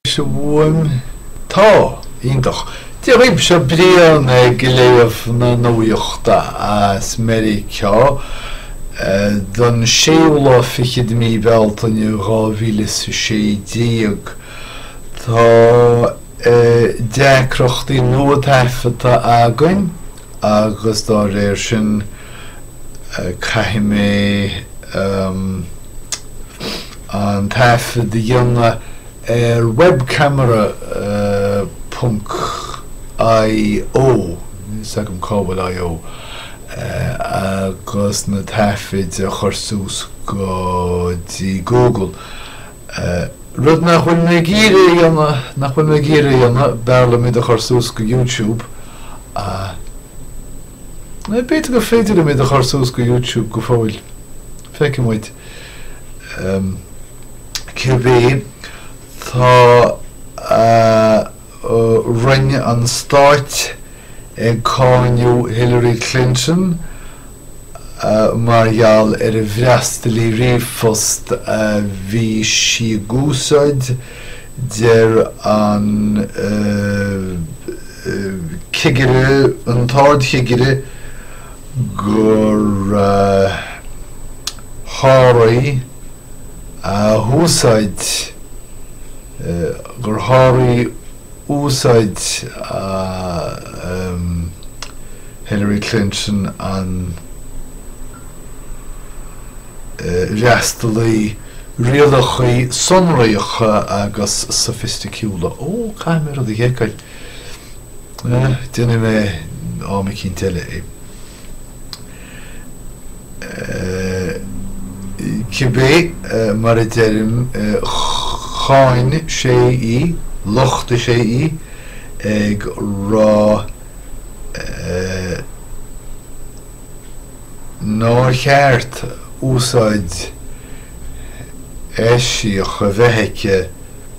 Is a fhuaim? Tá. Iontach. Dia daoibh, seo Brian ag léamh na nuaíochta as Meiriceá don séú lá fichid de mí Bealtaine, dhá mhíle is a sé déag. Tá deacrachtaí nua taifeadta againn. agus dá réir sin, caithfidh mé an taifead a dhéanamh ar webcamera ponc IO, níl 's agam cá bhfuil IO, agus na taifid a chur suas go dtí Google. Rud nach bhfuil mé ag iarraidh a dhéanamh, nach bhfuil mé ag iarraidh a dhéanamh, b'fhearr liom iad a chur suas go YouTube, ach, b'fhéidir gur féidir liom iad a chur suas go YouTube go fóill, feicfidh muid, em, cibé, tá, eh. Roinn an Stáit ag cáineadh Hillary Clinton mar gheall ar an bhfreastalaí ríomhphost a bhí sí ag úsáid, deir an cigire, an tArdchigire gur sháraigh úsáid, gur sháraigh úsáid Hillary Clinton an fhreastalaí rialachaí sonracha agus sofaisticiúla, ó, caithfidh mé rud a sheiceáil, déanfaidh mé am eicínt eile é. Cibé mar a deirim, cháin sé í, lochtaigh sé í, ag rá nár cheart úsáid eisiach a bheith aici,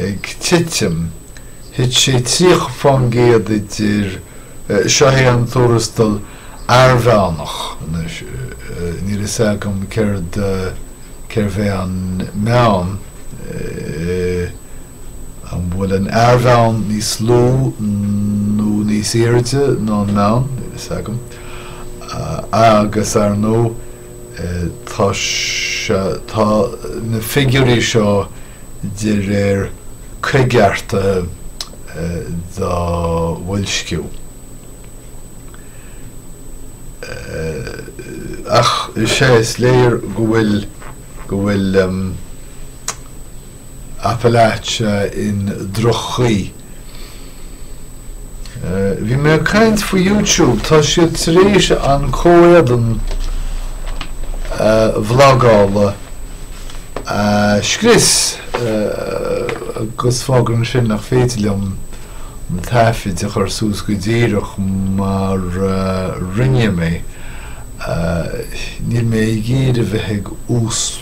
ag titim, thit sé 30 fán gcéad idir, seo é an tuarastal airmheánach, níl fhios agam céard, cérbh é an meán, an bhfuil an t-airmheán níos lú nó níos airde ná an meán, níl fhios agam, agus ar ndóigh, Tá, tá na figiúirí seo de réir coigeartaithe do bhoilsciú. Ach is é, is léir go bhfuil, go bhfuil. Appalachia i ndroch-chaoi. Bhí mé ag caint faoi YouTube, tá siad tar éis an comhéadan vlagála a scrios agus fágann sin nach féidir liom na taifid a chur suas go díreach mar a rinne mé. Níl mé ag iarraidh bheith ag úsc.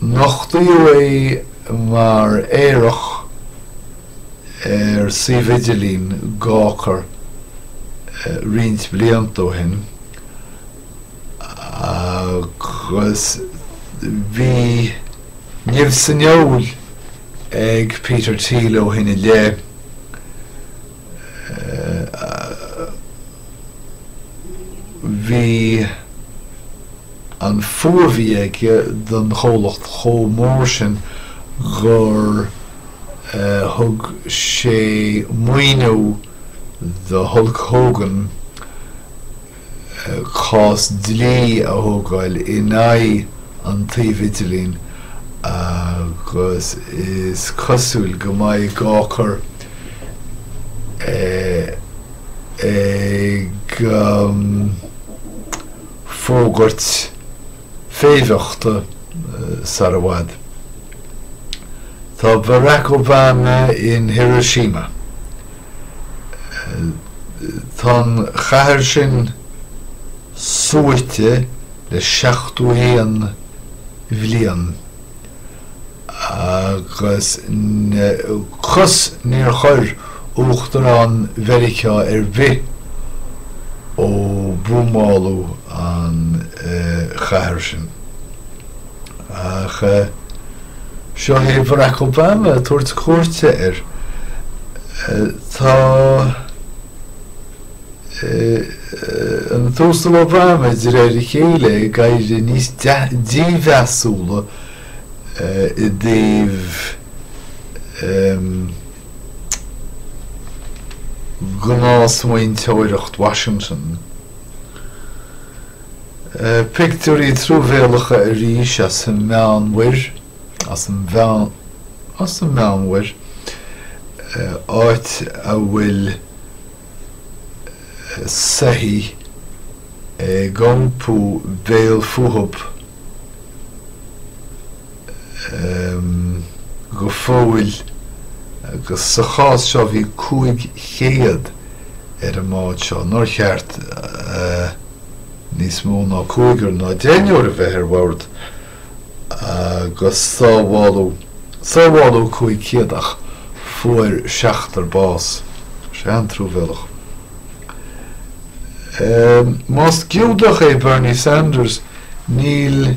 Nochtaíodh é mar aerach ar suíomh idirlín Gawker roinnt blianta ó shin agus bhí nimh san fheoil ag Peter Thiel ó shin i leith. Bhí an fuath a bhí aige don chomhlacht chomh mór sin gur thug sé maoiniú do Hulk Hogan, cás dlí a thógáil in aghaidh an tsuímh idirlín agus is cosúil go mbeidh Gawker ag fógairt féimheachta sar i bhfad. Tá Barack Obama in Hiroshima. Tá an chathair sin suaite le seachtó a haon bhliain agus cos níor chuir Uachtarán Meiriceánach ar bith ó buamáladh an chathair sin. Ach seo é Barack Obama ag tabhairt cuairte air. Tá an tUasal Obama, de réir a chéile, ag éirí níos dímheasúla i dtaobh gnás-smaointeoireacht Washington. Pictiúirí truamhéalacha arís as an Meánmhuir, as an Mheánmhuir, áit a bhfuil soithí ag iompú béal fúthu. go fóill agus sa chás seo bhí 500 ar an mbád seo, nár cheart do níos mó ná cúigear ná deichniúr a bheith ar bhord agus sábháladh, sábháladh 500 ach fuair seachtar bás, sé an truamhéalach. Más Giúdach é Bernie Sanders níl.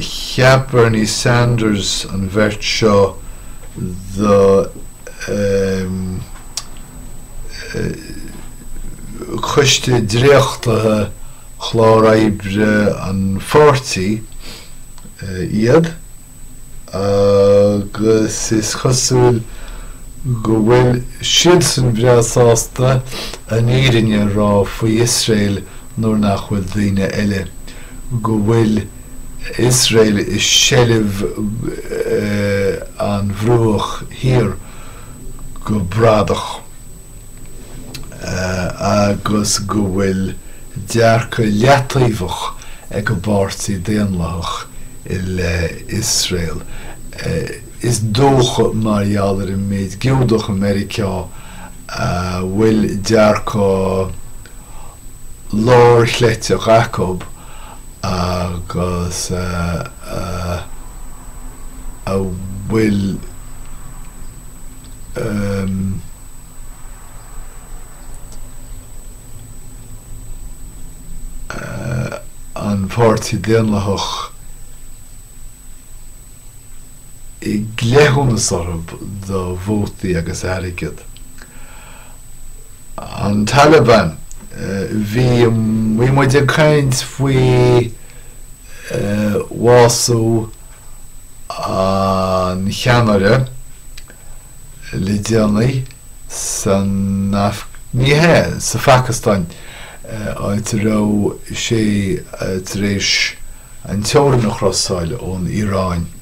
Cheap Bernie Sanders an bheirt seo do choiste dréachtaithe chlár oibre an pháirtí iad agus is cosúil go bhfuil siadsan breá sásta an fhírinne a rá faoi Iosrael nuair nach bhfuil daoine eile. go bhfuil Iosrael i seilbh an Bhruach Thiar go bradach agus go bhfuil dearcadh leataobhach ag an bPáirtí Daonlathach i leith Iosrael. Is dócha mar gheall ar an méid Giúdach i Meiriceá a bhfuil dearcadh. lár chleite acu agus a bhfuil an Páirtí Daonlathach i gcleithiúnas orthu do vótaí agus airgead. An Taliban, bhí muid ag caint faoi bhású an cheannaire le déanaí san, ní hea, sa Phacastáin, áit a raibh sé tar éis an teorainn a chrosáil ón Iaráin.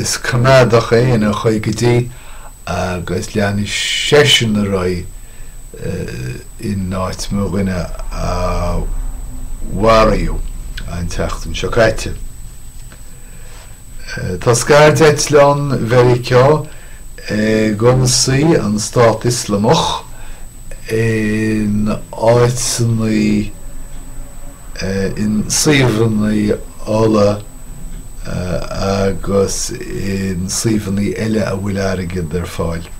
Is coimeádach é ina chroí go dtí agus leanfaidh seisean ar aghaidh i n-áit mo dhuine a maraíodh an tseachtain seo caite. Tá scairdeitleán Mheiriceá ag ionsaí an Stát Ioslamach in áiteannaí, in suíomhannaí ola agus in suíomhannaí eile a bhfuil airgead ar fáil.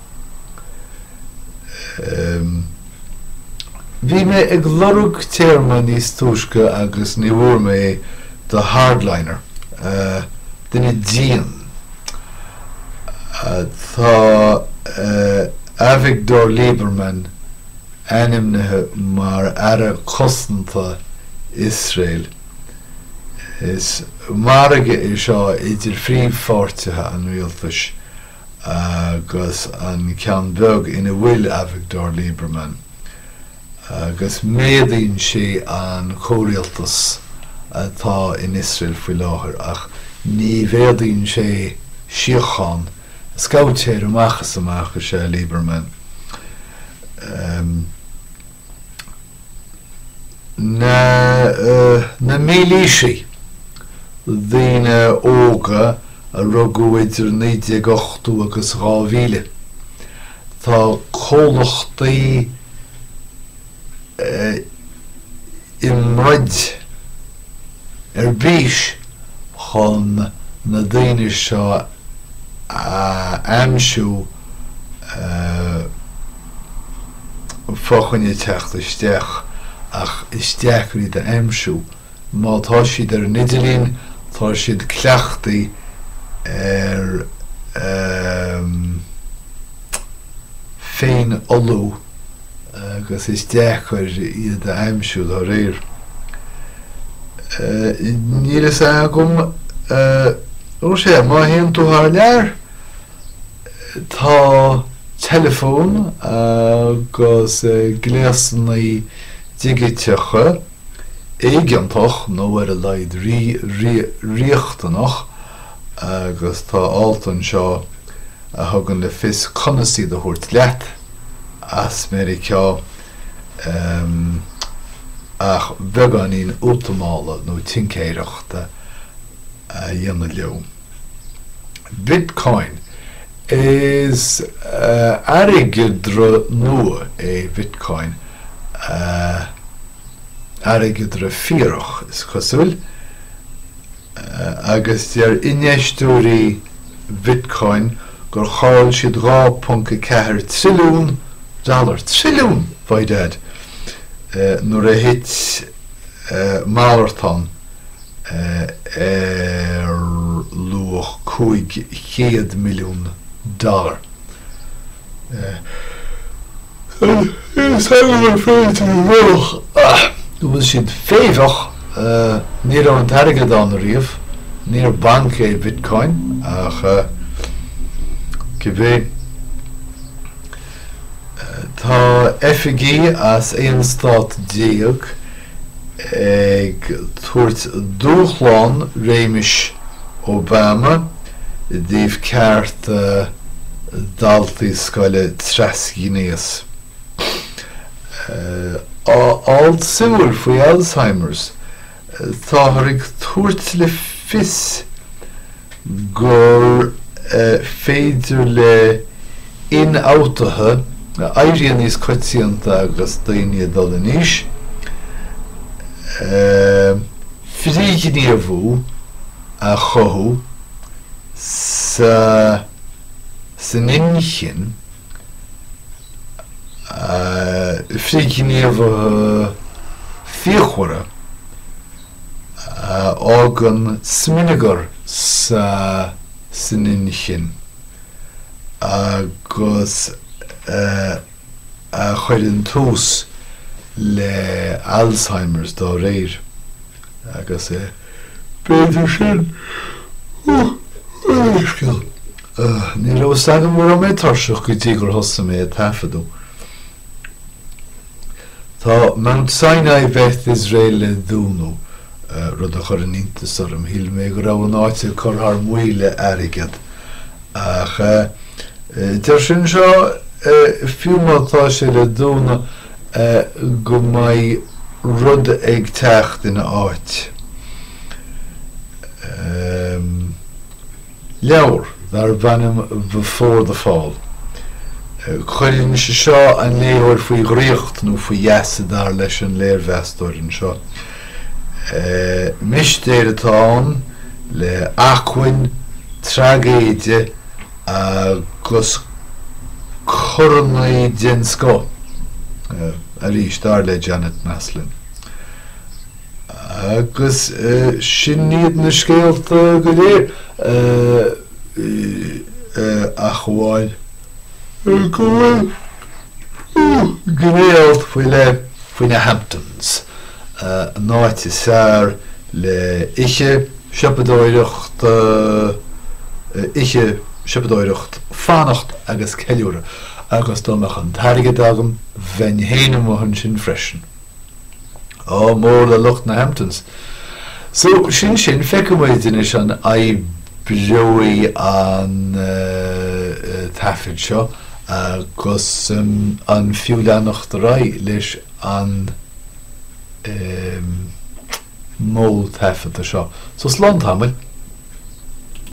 Bhí mé ag lorg téarma níos túisce agus ní bhfuair mé é do hardliner, duine dian. Tá Avigdor Lieberman ainmnithe mar Aire Cosanta Iosrael. Is margadh é seo idir phríomhpháirtithe an rialtais agus an ceann beag ina bhfuil Avigdor Lieberman. agus méadaíonn sé an comhrialtas atá in Iosrael faoi láthair, ach ní mhéadaíonn sé síocháin. Scabhaitéir amach is amach is ea Lieberman. Na mílaoisigh, daoine óga a rugadh idir 1980 agus 2000, Tá comhlachtaí i mbroid ar bís chun na daoine seo a aimsiú fá choinne teacht isteach ach is deacair iad a aimsiú. Má tá siad ar an idirlíon, tá siad cleachtaí ar ehm. féinfholú agus is deacair iad a aimsiú dá réir. Níl a fhios agam, ó sea, má théann tú thar lear, tá teileafóin agus gléasanna digiteacha, éigeantach nó ar a laghad riachtanach agus tá alt anseo a thugann le fios conas iad a thabhairt leat as Meiriceá ach beagáinín útamála nó tincéireachta a dhéanamh leo. Bitcoin Is airgeadra nua é Bitcoin, airgeadra fíorach, is cosúil, agus deir infheisteoirí Bitcoin gur chaill siad 2.4 trilliún dollar, trilliún! by dad, nuair a thit malartán. ar luach 500 milliún dollar. bhfuil siad féimheach, ní raibh an t-airgead ann riamh, níor banc é Bitcoin ach cibé. Tá oifigí as aon stát déag ag tabhairt dúshlán réimis Obama i dtaobh cearta daltaí scoile trasghnéas. Alt suimiúil faoi Alzheimers. Táthar ag tabhairt le fios gur féidir le hionfhabhtuithe a éiríonn níos coitianta agus daoine ag dul in aois, frithghníomhú a chothú san inchinn. frithghníomhartha fíochmhara a fhágann smionagar san inchinn agus a chuireann tús le Alzheimers dá réir. Agus b'fhéidir sin an leithscéal. Ní raibh fhios agam go raibh mé tuirseach go dtí gur thosaigh mé ag taifeadadh. Tá Mount Sinai Beth Israel le dúnadh, rud a chuireann iontas orm, shíl mé go raibh an áit ag cur thar maoil le airgead. Ach deir sé anseo, fiú má tá sé le dúnadh, go mbeidh rud ag teacht ina áit. Leabhar darb ainm Before the Fall. Cuireann sé seo an léitheoir faoi dhraíocht, nó faoi gheasa dar leis an léirmheastóir anseo. Mistéir atá ann, le acmhainn traigéide, Agus coraí den scoth, arís, dar le Janet Maslin. Agus sin iad na scéalta go léir, ach amháin go bhfuil gné-alt faoi leith faoi na Hamptons. an áit is fearr le ithe siopadóireacht ithe siopadóireacht fanacht agus ceiliúradh agus dá mbeadh an t-airgead agam bheinn féin amuigh ansin freisin ádh mór le lucht na Hamptons so sin sin feicfidh muid anois an oibreoidh an taifead seo agus an fiú leanacht ar aghaidh leis an modh taifeadta seo. So slán tamall.